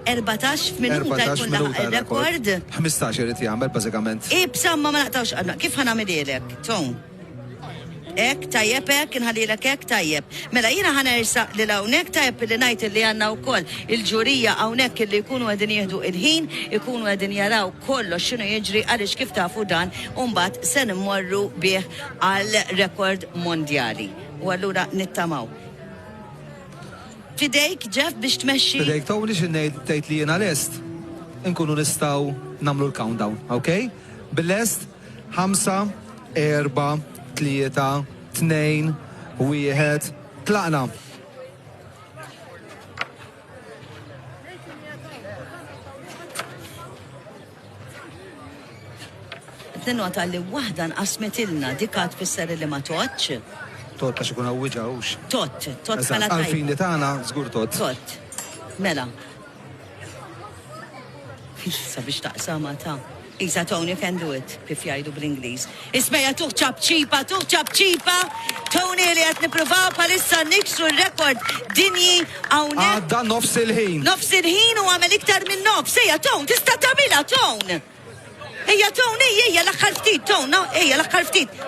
Erbatax minuta jkun laħaq ir-rekord. Ħmistax irid jagħmel bażikament. Ibsa ma ma naqtgħux qalbna. Kif ħa nagħmilhielek? Ton. Hekk tajjeb hekk inħallilek hekk tajjeb. Mela jiena ħa nersaq lil hawnhekk tajjeb li ngħid li għandna wkoll il-ġurija hawnhekk illi jkunu qegħdin jieħdu l-ħin, ikunu qegħdin jaraw kollox x'inhu jiġri għaliex kif tafu dan u mbagħad se immorru bih għal rekord mondjali. U allura nittamaw. F'idejk, Jeff, biex tmexxi. F'idejk, Tony, xi ngħid tgħid li jiena lest? Inkunu nistgħu nagħmlu l-countdown, ok? Bil-lest? Ħamsa, erba', tlieta, tnejn, wieħed, tlaqna! Tinnota li waħda nqasmetilna dik għad tfisser li ma tgħoddx. Tot għax ikun awwiġa hux. Tot, tot Eżatt, bħala tajba. għall-fini tagħna żgur tot. Tot. Mela. Sabiex taqsama ta' Isa Tony can do it, kif jgħidu bl-Ingliż. Ismejja tuh ċapċipa, tuh ċapċipa, Tony li qed nippruvaw bħalissa niksru r-rekord dinji hawnhekk. Għadda nofs il-ħin. Nofs il-ħin u għamel iktar minn nofs. Ejja Tony, tista' tagħmilha Tony. Ejja Tony, ejja l-aħħar ftit Tony, ejja l-aħħar ftit.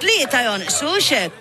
Tlieta jonqsu xek.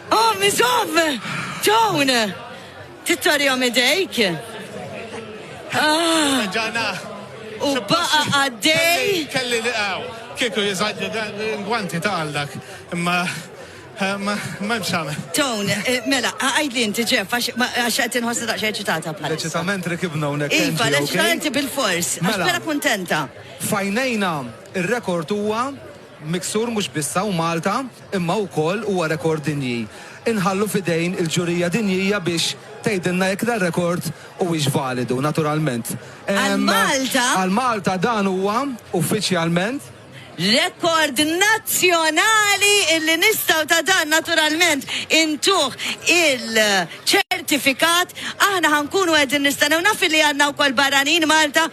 Qom iżomm! Dawn! Tittorihom idejk! Ah! U baqa' għaddej! Kelli li hawn. Kieku jiżgħaġġu l-gwanti ta' għaldak, imma ma hemm x'agħmel. Dawn! Mela, għidli inti, Jeff, għax qed inħossni daqsxejn eċitata bħalissa. L-eċitament rekibna hawnhekk, Angie, okej? Iva, l-eċitament bill-fors, għax vera kuntenta. F'għajnejna, ir-rekord huwa Miksur mhux biss hawn Malta imma wkoll huwa rekord dinji. Inħallu f'idejn il-ġurija dinjija biex tgħidilna jekk dar-rekord huwiex validu, naturalment. Għal Malta. Għal Malta dan huwa, uffiċjalment. Rekord nazzjonali illi nistgħu ta' dan naturalment intuh il-ċertifikat. Aħna ħa nkunu qegħdin nistennew naf illi għandna wkoll barranin Malta.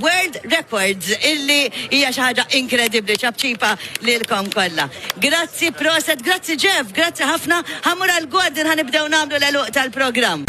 World Records illi hija xi ħaġa inkredibbli ċapċipa lilkom kollha. Grazzi proset, grazzi Jeff, grazzi ħafna. Ħamur għal Gordon ħanibdew nagħmlu l-eluq tal-programm.